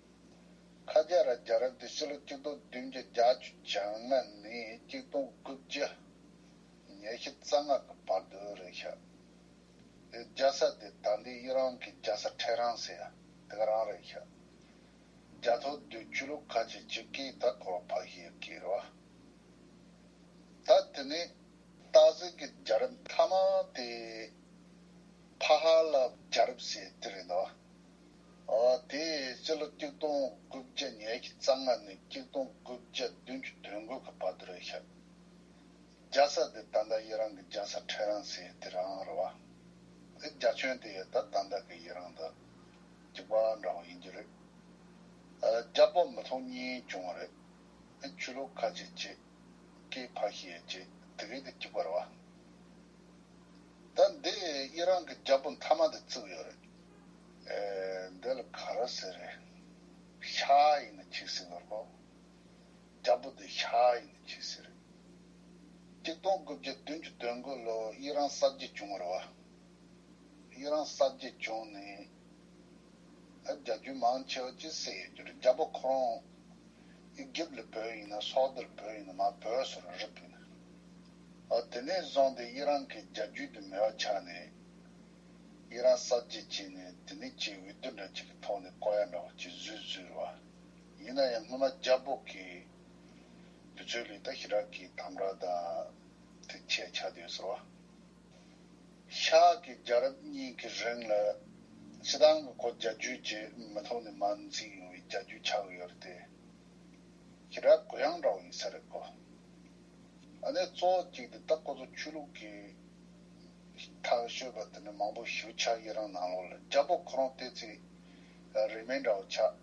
ཁ་སྐད་ར་རྒྱ་རབས་དེ་ཕྱི་ལོ་སྐྱིད་སྟོང་བདུན་བརྒྱ་རྒྱ་བཅུ་བྱང་ན་ནས་སྐྱིད་སྟོང་དགུ་བརྒྱ་ཉེར་བཞི་རྩ་སྔགས་ཀྱི་བར་དུ་རེད་ཤག་དེ་རྒྱ་ས་དེ་ད་འདི་ཡི་རང་གི་རྒྱ་ས་ཁྲེ་རང་ཟེར་དེ་ག་རང་རེད་ཤག་རྒྱ་ཐོ་དུས་བཅུ་ལོ་ཁ་ཆེ་སྤྱི་སྐད་ད་གོ་བ་ཕ་ཤེ་སྐད་ར་ད་དེ་ནས། སྟག་གཟིག་གི་རྒྱ་རབས་མཐའ་མ་དེ་ཕ་ཧ་ལ་རྒྱ་རབས་ཟེར་དེ་རེད་ནོ། དེ་ཡི་སྤྱི་ལོ་སྐྱིག་སྟོང་དགུ་བརྒྱ་ཉེར་གྱི་རྩ་སྔ་ནས་སྐྱིག་སྟོང་དགུ་བརྒྱ་བདུན་ཅུ་དོན་དགུ་གི་བར་དུ་རེད་ཤག་རྒྱ་ས་དེ་ད་ལྟ་ཡི་རང་གི་རྒྱ་ས་ཁྲེ་རང་སེ་དེ་རང་རེད་བ། དེ་རྒྱ་ཁྱོན་དེ་ཡི་ད་ད་འདའ་གི་ཡི་རང་དུ་གྱི་བ་འདྲ་བོ་ཡིན་རྒྱུ་རེད། རྒྱ་པོ་མི་ཐོག་གཉིས་བྱུང་བ་རེད། ཆུ་ལོག་ཁ་ཆེ་ཆེ། སྐེ་ཕ་ཤི་ཡི་ཆེ་དེ་གི་དུ་གྱི་བ་རེད་བ། ད་འདི་ཡི་རང་གི་རྒྱལ་པོ་མཐའ་མ་དེ་བཙུགས་ཡོད་རེད། ཨེ། འདི་ལ་ག་ར་ཟེར་རེད། ཤ་ཡིན་ན་ཁྱི་ཟེར་བར་ལོ། རྒྱལ་པོ་འདི་ཤ་ཡིན་ན་ཁྱི་ཟེར་རེད། གཅིག་སྟོང་དགུ་བརྒྱ་བདུན་བཅུ་དོན་དགུ་ལོ་ཡི་རང་གསར་བརྗེ་བྱུང་བར་བ། ཡི་རང་གསར་བརྗེ་བྱུང་ནས། རྒྱ་རྒྱུད་མང་ཆེ་བ་ཅི་ཟེར་ཡོད་རྒྱུར་རྒྱ་བོད་ཁོ་རང་སྒེར་ལ་བོད་ཡིན་ན་སོག་སྡེར་བོད་ཡིན་ན་མ་བོད་ཟེར་བ་རིགས་ཡིན། དེ་ནས་བཟུང་སྟེ་ཡིད་རང་གི་རྒྱ་རྒྱུད་དུ་མེད་པ་ཆགས་ནས་ཡིད་རང་གསར་བརྗེ་བྱས་ནས་དེ་ནས་ཆེས་འོས་བསྡུ་འདྲ་གཅིག་གི་ཐོག་ནས་བསྐོ་ཡ་འདྲ་བ་གཅིག་བཟོས་བཟོས་རེད་བ། ཡིན་ན་ཡང་སྔོན་མ་རྒྱ་བོད་ཀྱི་དུས་ཚོད་ལས་ད་ཞི་དྲག་གི་དམ་དྲག་དང་དེ་ཆེ་ཆགས་ཡོད་ཟེར་བ། ཤག་གི་རྒྱལ་རབས་གཉིས་ཀྱི་རིང་ལ་སྤྱི་བཏང་གི་གོ་རྒྱ་རྒྱུད་བརྗེས་མི་ཐོག་ནས་མ་འཛིན་ཡོང་བའི་རྒྱ་རྒྱུད་ཆགས་ཀྱི་ཡོད་རེད་དེ། ཁྱེད་རང་གུ་ཡངས་འདྲ་བོ་ཡིན་ས་རེད་གོ། ཨ་ནེ་གཙོ་བོ་གཅིག་དེ་ད་ཁོ་ཚོ་ཆོས་ལུགས་ཀྱི་ཐག་ཤོད་པ་དེ་འདྲ་མང་པོ་ཞུ་ཆ་ཡི་རང་ནང་ལོག་ལ་རྒྱ་པོ་ཁོ་རང་བལྟས་ཚེ་རིས་མེད་འདྲ་བོ་ཆགས།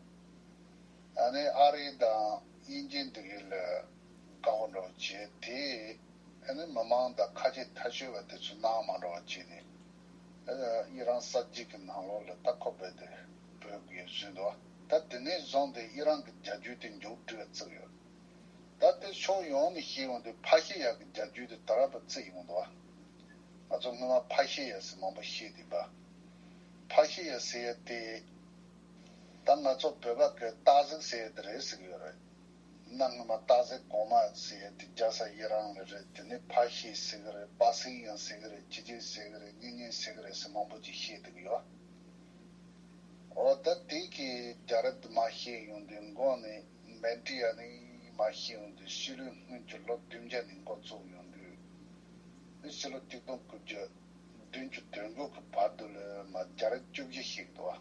ཨ་ནེ་ཨ་རི་དང་དབྱིན་ཇི་འདི་གི་ལ་བཀའ་བསྒོ་འགྲོ་བ་བྱས་དེ། ཨེ་ནི་མི་མང་དག་ཁ་ཆེ་ཐལ་ཆོལ་བ་དེ་ཚོས་སྣང་མ་འགྲོ་བ་བྱས་ནས། ཡི་རང་ས་གཅིག་གི་ནང་ལོགས་ལ་སྟག་ཁོག་སྦས་ཏེ་བོད་དགེ་བཟུན་འདུ་བ་ད་དེ་ནས་བཟུང་སྟེ་ཡི་རང་གི་རྒྱ་རྒྱུད་དེ་མགྱོགས་བྲི་བ་བརྩིགས་ཡོད། ད་དེར་ཕྱོགས་ཡོངས་ནས་ཤེས་ཡོང་དུས་ཕ་ཤེས་ཡག་གི་རྒྱ་རྒྱུད་དེ་ད་རབ་པ་བརྩིགས་ཡོང་འདུ་བ། ང་ཚོ་སྔོན་མ་ཕ་ཤེས་ཡག་ཟེར་མང་པོ་ཤེས་དེ་བ། ཕ་ཤེས་ཡག་ཟེར་ཡ་དེ། ད་ང་ཚོ་བོད་པ་གའི་སྟག་གཟིག་ཟེར་ཡ་དེ་རེད་ཟེར་གི་ཡོད་རེད། ནང་ངོ་མ་རྟག་གཟིགས་གོང་མ་ཟེར་ཡ་དེ་རྒྱ་ས་ཡི་རང་ལ་རེད་དེ་ནས་ཕ་ཤེས་ཟེར་གི་རེད་པ་སིང་ཡང་ཟེར་གི་རེད་ཅི་ཅི་ཟེར་གི་རེད་གཉིས་གཉིས་ཟེར་གི་རེད་ཟེར་མང་པོ་ཅིག་བཤད་སྡུག་ཡོད་ཨོ་ད་དེ་གིས་རྒྱ་རབ་དུ་མ་ཤེས་ཡོང་དུས་མགོ་ནས་མན་ཏྲི་ཡ་ནི་མ་ཤེས་ཡོང་དུས་ཕྱི་ལོའི་སྔོན་གྱི་ལོ་བདུན་བརྒྱ་ནས་མགོ་བཙུགས་ཡོང་དུས་ནི་ཕྱི་ལོ་གཅིག་སྟོང་དགུ་བརྒྱ་བདུན་ཅུ་དོན་དགུ་གི་བར་དུ་ལོས་མ་རྒྱ་རབ་བཅུ་བཞི་ཤེས་གི་འདུག་ཨ།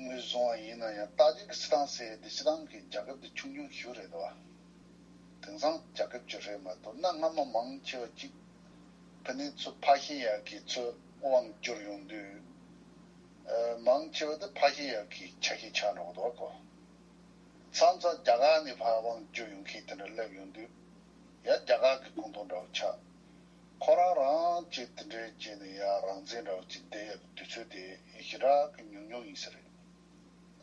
ངོས་བཟུང་བ་ཡིན་ན་ཡང་ཏཱ་ཇི་ཀི་སི་ཐང་ཟེར་འདི་ཕྱི་རང་གི་རྒྱ་ཁབ་ཀྱི་ཆུང་ཆུང་ཤུལ་རེད་བ། དེང་སང་རྒྱ་ཁབ་ཀྱི་རེད་མ་གཏོགས་གནའ་སྔ་མོ་མང་ཆེ་བ་གཅིག་བོད་ནས་ཚུར་ཕ་ཤེས་ཡག་གི་ཚུར་དབང་བསྒྱུར་ཡོང་དུས། མང་ཆེ་བ་དེ་ཕ་ཤེས་ཡག་གི་ཆ་ཤས་ཆགས་འགྲོ་གི་འདུག་བ་གོ། མཚམས་མཚམས་རྒྱ་གར་ནས་ཕ་དབང་བསྒྱུར་ཡོང་མཁན་དེ་འདྲ་སླེབས་ཡོང་དུས། ཡ་རྒྱ་གར་གི་ཀུང་ཏོང་འདྲ་བོ་ཆགས། ཁོ་རང་རང་ཅེས་དེ་འདྲའི་རྗེས་ནས་ཡ་རང་བཙན་འདྲ་བོ་ཅིག་བསྡད་ཡོད་པའི་དུས་ཚོད་དེ་ཞི་དྲག་གི་ཉུང་ཉུང་ཡིན་ས་རེད།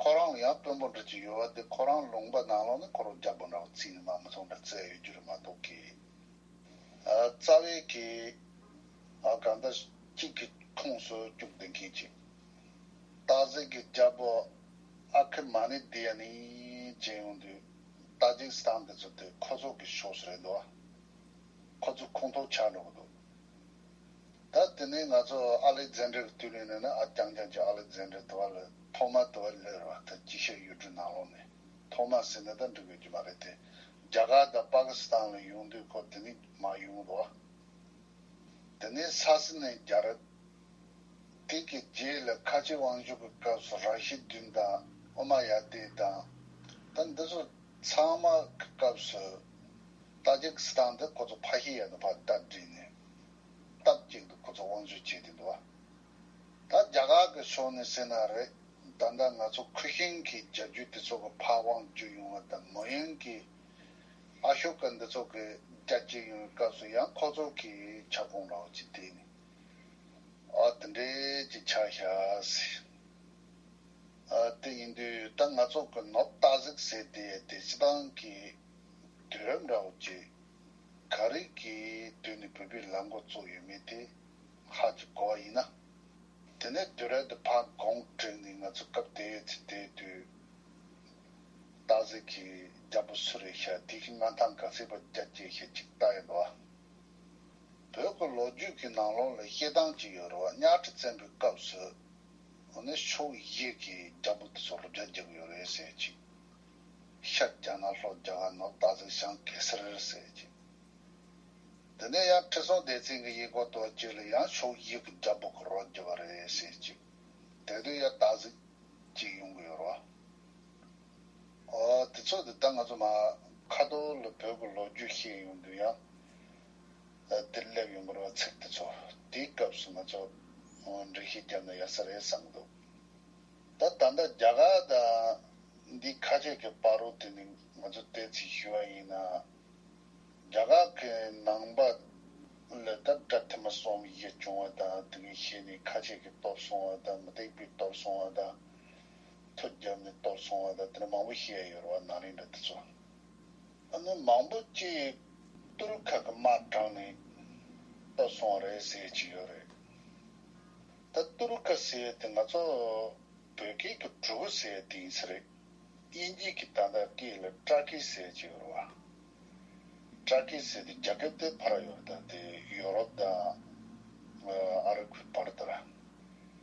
ཁོ་རང་ལ་ཡང་དཔོན་པོ་འདྲ་ཅིག་ཡོད་བ་དེ་ཁོ་རང་ལུང་པ་ནང་ལོགས་ནས་ཁོ་རང་རྒྱ་པོ་འདྲ་བོ་ཚིག་ནི་མ་མི་ཐུང་འདྲ་བཙལ་ཡོད་རྒྱུ་རེད་མ་གཏོགས་ཀི། རྩ་བའི་གི། གང་ལྟར་གཅིག་གི་ཁུངས་སུ་བཅུག་བསྡད་མཁན་ཅིག། སྟག་གཟིག་གི་རྒྱ་པོ་ཨ་ཁི་མ་ནི་དེ་ཡ་ནི་ཅན་ཡོང་དུས་ཏཱ་ཇིག་སི་ཐང་འདི་ཚོ་དེ་ཁོ་ཚོ་གི་ཕྱོགས་སུ་རེད་འདུག་བ། ཁོ་ཚོ་ཁོང་ཁྲོ་ཆགས་འགྲོ་གི་འདུག་ད། དེ་ནས་ང་ཚོ་ཨ་ལེག་ཛན་དྲེར་བསྡུས་ནས་ནོན་ན་ཨ་རྐྱང་རྐྱང་གྱི་ཨ་ལེག་ཛན་དྲེ་དུ་བ་ལ་ཐོག་མར་དུ་བ་ལོས་རེ་བ་ད་ཅི་བཤད་གཡུ་འབྲུག་ནང་ལོགས་ནས་ཐོག་མར་ཟིན་ན་ད་འགྲིག་དགོས་ཀྱི་མ་རེད་དེ། རྒྱ་གར་དང་པ་ཀི་སི་ཐང་ལ་ཡོང་དུས་ཁོ་དེ་ནས་མ་ཡོང་གི་འདུག་ཨ། དེ་ནས་ས་སི་ནས་རྒྱ་ར། དེ་གི་རྗེས་ལ་ཁ་ཆེ་དབང་ཕྱུག་གི་སྐབས་སུ་ར་ཤི་དུན་དང་ཨོ་མ་ཡ་དེ་དང། ད་འདི་ཚོ། ཚང་མ་གི་སྐབས་སུ་ཏཱ་ཇིག་སི་ཐན་དེ་ཁོ་ཚོ་ཕ་ཤི་ཡས་ནས་ཕར་སྟབས་བསྒྲིགས་ནས་སྟབས་གཅིག་ཏུ་ཁོ་ཚོ་དབང་བྱུས་བྱས་དེ་འདུག་བ། ད་རྒྱ་གར་གི་ཕྱོགས་ནས་བསད་ན་རེད་ད་ལྟ་ང་ཚོ་ཁུ་ཤིང་གི་རྒྱ་རྒྱུད་དེ་ཚོ་གི་ཕར་དབང་བྱུས་ཡོང་བ་དང་མོ་ཡོན་གི་ཨ་ཤོ་ཀ་འདི་ཚོ་གི་རྒྱ་བསྐྱེད་ཡོང་བའི་སྐབས་སུ་ཡང་ཁོ་ཚོ་གི་ཁྱབ་ཁོངས་ལའོ་ཅི་ཏེ་ནི་ཨ་དེ་འདྲས་ཀྱི་ཆགས་ཤག་སི། དེ་ཡིན་དུས་ད་ང་ཚོ་གི་ནོར་སྟག་གཟིག་ཟེར་དེ་དེ་སྤྱི་བཏང་གི་དུས་རབས་འདྲ་བོ་ཅིག་ག་རིགས་ཀྱི་དུས་ནས་བོད་པའི་ལམ་གོ་བཙུགས་ཡོད་མེད་དེ་ཧ་ཅང་གོ་བ་ཡིན་ན། དེ་ནས་དུས་རབས་དེ་ཕར་དགོངས་དྲིལ་ནས་ང་ཚོ་སྐབས་དེའི་ཡོད་ཚད་དེའི་དུས་སྟག་གཟིག་གིས་རྒྱ་བོད་སུ་རེད་ཤག་དེ་གིས་མངའ་ཐང་ག་སྲིད་པར་རྒྱ་སྐྱེད་ཤག་ཅིག་བལྟ་ཡོད་རེད་བ། བོད་ཀྱི་ལོ་རྒྱུས་ཀྱི་ནང་ལོགས་ལ་བཤད་སྟངས་ཅིག་ཡོད་རེད་བ་གཉའ་ཁྲི་བཙན་པོའི་སྐབས་སུ། འོ་ན་ཕྱོགས་བཞི་གི་རྒྱ་བོད་ཚོ་ལོ་བརྒྱ་བརྒྱབ་ཡོད་རེད་ཟེར་ཅིག། ཤར་རྒྱ་ནག་ལྷོ་རྒྱ་གར་ནོར་བདག་གཟིག་ཞང་གེ་སར་རེད་ཟེར་ཅིག། དེ་ནས་ཡང་ཁྲི་སྲོང་ལྡེ་བཙན་གྱི་ཡེ་སྒོ་དོར་རྗེས་ལ་ཡང་ཕྱོགས་བཞི་གི་རྒྱ་བོད་ཀྱི་རོགས་བརྒྱབ་པ་རེད་ཟེར་ཅིག། དེ་དུས་ཡང་བདག་གཟིག་ཅིག་ཡོང་གི་ཡོད་རོ། ཨོ། དེ་ཚོ་དེ་ལྟར་ང་ཚོ་མ། ཁ་ཐོར་ལ་བོད་ཀྱི་ལོ་རྒྱུས་བཤད་ཡོང་དུས་ཡང། འདིར་སླེབས་ཡོང་བར་བ་ཚིག་འདི་ཚོ་དེའི་སྐབས་སུ་ང་ཚོ་འགྲེལ་བཤད་བརྒྱབ་ན་ཡག་ས་རེད་བསམ་འདུག་ད་ད་ལྟ་རྒྱ་གར་དང་འདིའི་ཁ་ཆད་ཀྱི་པར་རོ་དེ་ནི་ང་ཚོ་བལྟས་ཚིག་ཞུ་བ་ཡིན་ན་རྒྱ་གར་གྱི་ནང་པ་ལོས་ད་བཀྲ་ཐི་མ་སོང་བའི་ཡིད་བྱུང་བ་དང་དེ་གིས་ཤེས་ནས་ཁ་ཆད་ཀྱི་གཏོར་སོང་བ་དང་མི་སྟེགས་པའི་གཏོར་སོང་བ་དང་ཐུ་བརྒྱབ་ནས་གཏོར་སོང་བ་དང་དེ་འདྲ་མང་པོ་བཤད་ཡོད་རེད་བ་ནང་རིང་འདྲ་འདི་ཚོ། ནི་མང་པོ་སྐྱེས། ཏུར་ཁ་གི་དམར་གྲངས་ནི་ལྟ་སོང་རེད་ཟེར་གྱི་ཡོད་རེད། ད་ཏུར་ཁ་ཟེར་དེ་ང་ཚོ་བོད་སྐད་དུ་གྲུ་གུ་ཟེར་དེ་ཡིན་ས་རེད། དབྱིན་ཇིས་ཀྱི་ད་ལྟ་སྐད་ལ Truckee ཟེར་གྱི་ཡོད་རེད་བ། Truckee ཟེར་དེ་རྒྱ་སྐད་དེ་ཕར་ཡོད་རེད་ད་དེ་ཡོ་རོབ་དང་ཨ་རབ་ཀྱི་བར་དུ་ར།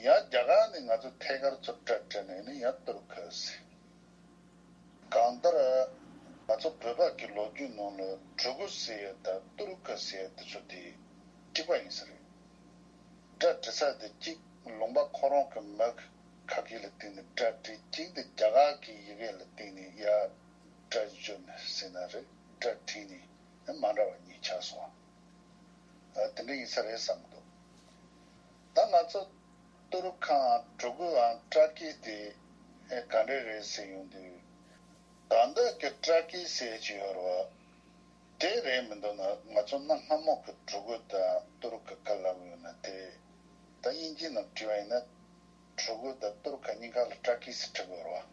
ཡང་རྒྱ་གར་ནས་ང་ཚོ་ཐད་ཀར་ཚུར་བཀྲ་བཀྲ་ནས་ནི་ཡང་ལྟོས་གོས་ཟེར། གང་ལྟར། ང་ཚོ་བོད་བར་གྱི་ལོ་རྒྱུས་ནང་ལ་གྲོས་གོས་ཟེར་ཡ་དང་ལྟོས་གོས་ཟེར་ཡ་འདི་ཚོ་དེ་གྲིག་པ་ཡིན་ས་རེད། སྒྲ་འདྲི་ས་དེ་གཅིག་ལུང་པ་ཁོ་རང་གི་མི་གི་ཁ་གི་ལ་བསྟིང་ནས་སྒྲ་འདྲི་གཅིག་འདི་རྒྱ་གར་གི་ཡི་གེ་ལ་བསྟིང་ནས་ཡ་སྒྲ་བརྗོད་ནས་ཟེར་ན་རེད་སྒྲ་འདྲི་ནི་མ་འདྲ་བ་གཉིས་ཆགས་སོང། འདི་འདྲ་ཡིན་ས་རེད་བསམ་འདུག། ད་ང་ཚོ་ཏོ་རུ་ཁང་གྲུ་དགུའང་སྤྲ་སྐྱིད་དེ་ག་འདྲ་རེད་ཟེར་ཡོང་དུས། ད་འདི་གི་སྤྲ་སྐྱིད་ཟེར་གྱི་ཡོད་རེད་བ། དེ་རེད་མི་འདུག་ན་ང་ཚོ་གནའ་སྔ་མོ་གི་གྲུ་དགུ་དང་ཏོ་རུ་ཁ་ག་ལ་བུད་ཡོང་ན་དེ། ད་དབྱིན་ཇི་རྣམས་བྲིས་བ་ཡིན་ན། གྲུ་དགུ་དང་ཏོ་རུ་ཁ་གཉིས་ཀ་ལ་སྤྲ་སྐྱིད་ཟེར་ཁྲིད་དགོས་རེད་བ།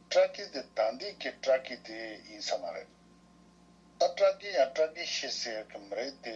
སྤྲ་སྐྱིད་དེ་ད་འདི་གི་སྤྲ་སྐྱིད་དེ་ཡིན་ས་མ་རེད། ད་སྤྲ་སྐྱིད་ཡང་སྤྲ་སྐྱིད་ཤི་ཟེར་གི་མི་རེད་དེ།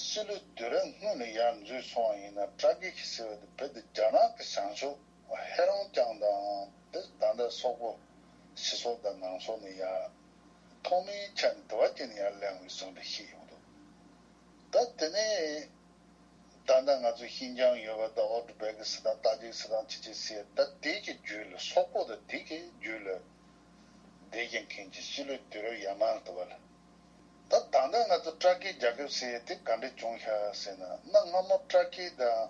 སྤྱི་ལོའི་དུས་རབས་སྔོན་ལ་ཡར་འཛུལ་བྱུང་བ་ཡིན་ན་བཀྲ་བགེགས་ཟེར་བ་དེ་བོད་དུ་རྒྱ་ནག་གི་བྱང་ཕྱོགས་ཧེ་རོང་རྐྱང་དང་འདིར་ད་ལྟ་སོག་པོ་ཕྱི་སོག་དང་ནང་སོག་ནས་ཡར་ཐོག་མའི་ཆ་ནས་དུ་བ་སྐྱེས་ནས་ཡར་གླེང་བའི་ཟུང་འབྲེལ་ཞིག་ཡོང་འདུག་ད་དེ་ནས་ད་ལྟ་ང་ཚོ་ཤིན་ཅང་ཡོད་པ་ད་འོག་ཏུ་བལ་གི་སི་ཐང་ཏཱ་ཇིའི་སི་ཐང་ཅི་ཅི་སི་ད་དེ་གི་རྒྱུད་ལ་སོག་པོ་དང་དེ་གི་རྒྱུད་ལ་བདེ་ཆེན་མཁན་གྱི་སྤྱི་ལོའི་དུས་རབས་ཡར་མར་དུ་བ་ལ། ད་དང་ཐོག་ང་ཚོ་སྤྲ་ཁའི་རྒྱ་ཁབ་ཟེར་དེ་ག་འདྲ་བྱུང་ཤག་ཟེར་ན་གནའ་སྔ་མོར་སྤྲ་ཁའི་དང།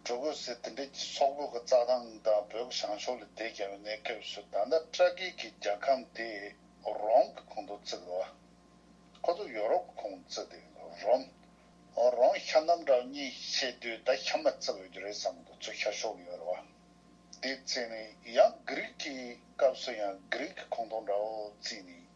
གྲུ་གུ་ཟེར་དེ་འདྲས་ཀྱི་སོག་པོ་གི་རྩྭ་ཐང་དང་བོད་ཀྱི་བྱང་ཕྱོགས་ལས་དེད་ཀྱང་བའི་གནས་སྐབས་སུ་ད་ལྟ་སྤྲ་ཁའི་གི་རྒྱ་ཁམས་དེ་རོམ་གི་ཁོངས་དུ་བརྩི་དགོས་བ། ཁོ་ཚོ་ཡོ་རོབ་གི་ཁོངས་དུ་བརྩི་དེ་རོམ། རོང་ཤ་རྣམ་གྲངས་གཉིས་བྱས་དུས་ད་ཤ་མ་བརྩི་བའི་རྒྱུ་རེད་བསམ་གི་ཚུལ་ཤར་ཤོག་ཡོད་རེད་བ། དེའི་ཚེ་ནས་ཡང་གྷི་རིག་གི་སྐབས་སུ་ཡང་གྷི་རིག་གི་ཁོངས་དོག་འདྲ་བོ་བརྩིས་ནས།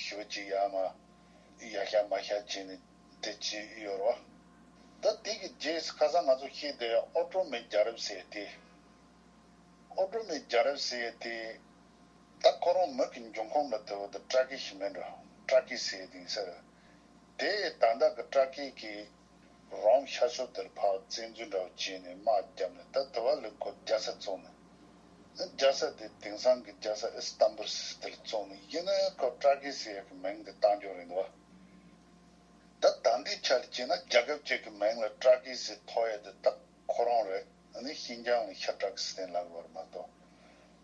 ཞོ་གཅིག་ཡ་མ་ཡ་ཤ་མ་ཤ་བྱས་ནས་དེ་བྱས་ཡོད་རོ། ད་དེ་གི་རྗེས་ཁ་སང་ང་ཚོ་ཤེས་བསྡད་ཨོ་ཀྲོ་མེ་རྒྱ་རབས་ཟེར་དེ། ཨོ་ཀྲོ་མེ་རྒྱ་རབས་ཟེར་དེ། ད་ཁོ་རང་མིག་གི་འབྱུང་ཁུངས་ལ་དེ་བོ་ད་ཏྲ་ཀི་ཞིག་མིན་འགྲོ་ཏྲ་ཀི་ཟེར་དེ་ཡིན་ཟེར། དེ་ཡིས་ད་ད་གི་ཏྲ་ཀི་གི་རང་ཤར་ཕྱོགས་དེར་འཕགས་བཙན་རྫུན་འདྲ་བོ་བྱས་ནས་དམག་བརྒྱབ་ནས་ད་དུ་བ་ལི་སྐོར་རྒྱ་ས་བཙོང་ནས་ནི་རྒྱ་ས་དེ་དེང་སང་གི་རྒྱ་ས་ཨི་སི་ཏམ་པུར་སིས་ཏིལ་བཙོང་ནས་ཡིན་ནི་ཁོ་ཀྲ་ཀི་སི་ཡ་གི་མིང་དེ་བཏང་རྒྱུ་རེད་འདུག་བ། ད་ད་འདི་ཆ་ལ་བྱས་ན་རྒྱ་ཁབ་ཅིག་གི་མིང་ལ་ཀྲ་ཀི་སི་ཐོ་ཡ་དེ་བཏགས། ཁོ་རང་རེད། ཨ་ནི་ཤིན་ཅང་ལ་ཤ་བཀྲ་གི་སེན་ལབ་ཡོར་མ་གཏོགས།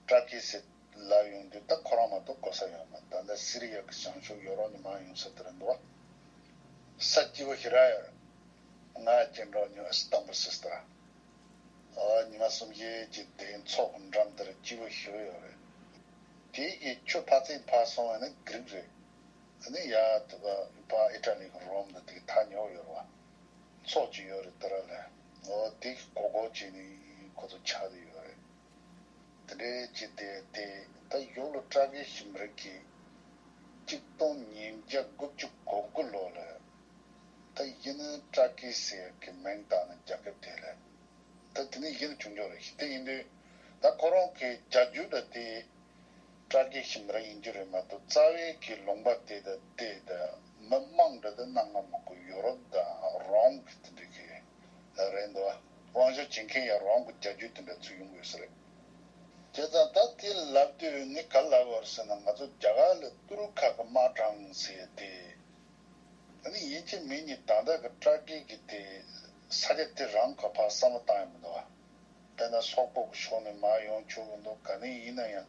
བཀྲ་ཀི་སེ་ལབ་ཡོང་དུས་ད་ཁོ་རང་མ་གཏོགས་གོ་ས་ཡོར་མ་ད་ལྟ་སི་རི་ཡ་གི་བྱང་ཕྱོགས་ཡོ་རོག་ནི་མང་ཡོང་ས་དེ་རེད་འདུག་བ། ས་སྐྱི་བ་ཤི་ར་ཡོར། ང་སྐྱེ་འགྲོ་ཉུ་ཨི་སི་ཏམ་བུ་སི་སི་ཏི་ར། ཨོ་ཉི་མ་གསུམ་བཞི་གྱི་སྡེ་ཚོགས་འགྲམ་དེར་སྐྱི་བ་ཤི་བ་ཡོར་རེད། དེ་གི་ཁྱོད་ཕ་ཚིག་འཕར་སོང་བ་ནི་གི་རིག་རེད། ཨ་ནི་ཡ་ཐུ་ག་ཨི་ཕ་ཨི་ཏྲ་ལི་གི་རོམ་དུ་དེ་གི་ཐ་ཉོ་བ་ཡོར་བ། ཚོགས་ཀྱི་ཡོད་རེད་དེ་ར་ལས་ངོ་བོ་དེ་གི་གོ་གོ་བྱེད་ནི་ཁོ་ཚོ་ཆགས་ནི་ཡོད་རེད་དེ་འདྲའི་བྱེད་དེ་དེ་ད་ཡུག་ལོ་སྤྲ་གི་ཞིམ་རིགས་ཀྱི་གཅིག་སྟོང་ཉིས་བརྒྱ་དགུ་བཅུ་གོ་དགུ་ལོ་ལས་ད་ཡིན་ནི་སྤྲ་གི་ཟེར་གི་མིང་བཏགས་ནི་རྒྱ་ཁབ་དེ་ལས་ད་དེ་ནི་ཡིན་ནི་བྱུང་བྱུང་རེད་ཞིག་དེ་ཡིན་དུས་ད་ཁོ་རང་གི་རྒྱ་རྒྱུ་ད་དེ་སྤྲ་གི་ཞིམ་རིགས་ཡིན་རྒྱུ་རེད་མ་གཏོགས་རྩ་བའི་གི་ལུང་པ་དེ་ད་དེ་ད་མི་དམངས་འདི་དང་གནའ་སྔ་མོ་གི་ཡོ་རོབ་དང་རོམ་གྱི་དེ་འདྲའི་གི་རེད་འདུག་དབང་ཆ་བྱེད་མཁན་ཡང་རོམ་གྱི་རྒྱལ་རྒྱུད་དེ་འདྲ་ཚུད་ཡོང་དགོས་ས་རེད། དེ་ཙང་ད་དེ་ལབ་དུས་ངས་ག་ལབ་བར་ཟེར་ན་ང་ཚོ་རྒྱ་གར་ལས་ཏུར་ཁ་གི་དམག་དྲངས་ཚེ་དེ་ད་ནི་ཡིན་གཅིག་མིན་གཉིས་དང་ཐག་གི་སྐྲ་བྲེག་གི་དེ་ས་སྐྱ་དེ་རང་ག་ཕར་བསམ་བློ་བཏང་ཡོད་མི་འདུག་བ་དེ་ན་སོག་པོ་གི་ཕྱོགས་ནས་མར་ཡོང་ཆོག་གི་འདུག་ག་ནས་ཡིན་ན་ཡང་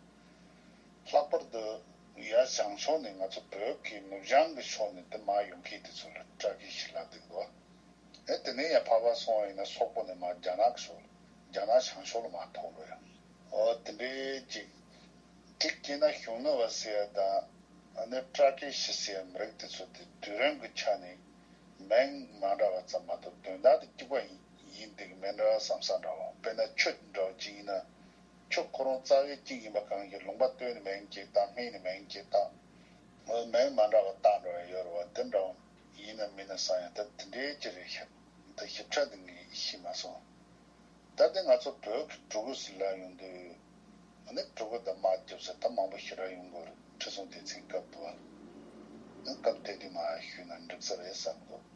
ལྷག་པར་དུ་ནུབ་ཡར་བྱང་ཕྱོགས་ནས་ང་ཚོ་བོད་ཀྱི་ནུབ་བྱང་གི་ཕྱོགས་ནས་འདི་མ་ཡོང་ཁེ་དེ་ཚོ་ལ་སྐྲ་སྐྱིལ་ཞིག་ལབ་དེ་འགྲོ། ཨེ་དེ་ནས་ཡང་ཕར་ཕར་སོང་བ་ཡིན་ན་སོག་པོ་ནས་མར་རྒྱ་ནག་གི་ཕྱོགས་ལ་རྒྱ་ནག་བྱང་ཕྱོགས་ལ་མར་ཐོག་འགྲོ་ཡ། ཨོ་དེ་འདྲའི་ཅིག། འགྲིག་སྐྱེས་ན་གཞུང་ནུབ་བ་ཟེར་ཡ་དང་ནི་སྐྲ་སྐྱིལ་ཞིག་ཟེར་ཡ་མི་རིགས་དེ་ཚོ་དེ་དུས་རིང་གི་ཆ་ནས་མེང་མ་འདྲ་བ་ཙམ་མ་གཏོགས་དོན་དག་དེ་གཅིག་པ་ཡིན་འདུག་མེ་འདྲ་བ་ཟམ་ས་འདྲ་བ་དཔེར་ན་ཆུ་འདྲ་བ་ཅིག་ཡིན་ན། ཁྱོད་ཁོ་རང་རྩ་བའི་གཅིག་ཡིན་པ་གང་གིས་ལུང་པ་སྟོད་ནི་མན་གྱི་རྟ་སྨད་ནི་མན་གྱི་རྟ། མོའི་མན་མ་འདྲ་བ་རྟ་འདྲ་བ་ཡོད་རེད་བ་འདི་འདྲ་བ་ཡིན་ནམ་མིན་ནམ་བསམ་ཡང་ད་དེ་འདྲའི་ཅི་རེད་ཞིབ་འདི་ཞིབ་ཕྲ་འདི་ངས་ཤེས་མ་སོང། ད་དེ་ང་ཚོ་བོད་ཀྱི་གྲུ་གུ་ཟེར་ལ་ཡོང་དུས་ནི་གྲུ་གུ་དང་མ་རྒྱབ་ཟེར་ད་མང་པོ་ཞིག་ར་ཡོང་དགོས་རེད་ཁྲི་སྲོང་ལྡེ་བཙན་སྐབས་དུ་བ་ནི་སྐབས་དེ་དུས་མ་ཞུས་ན་འགྲིག་ས་རེད་བསམ་དགོས།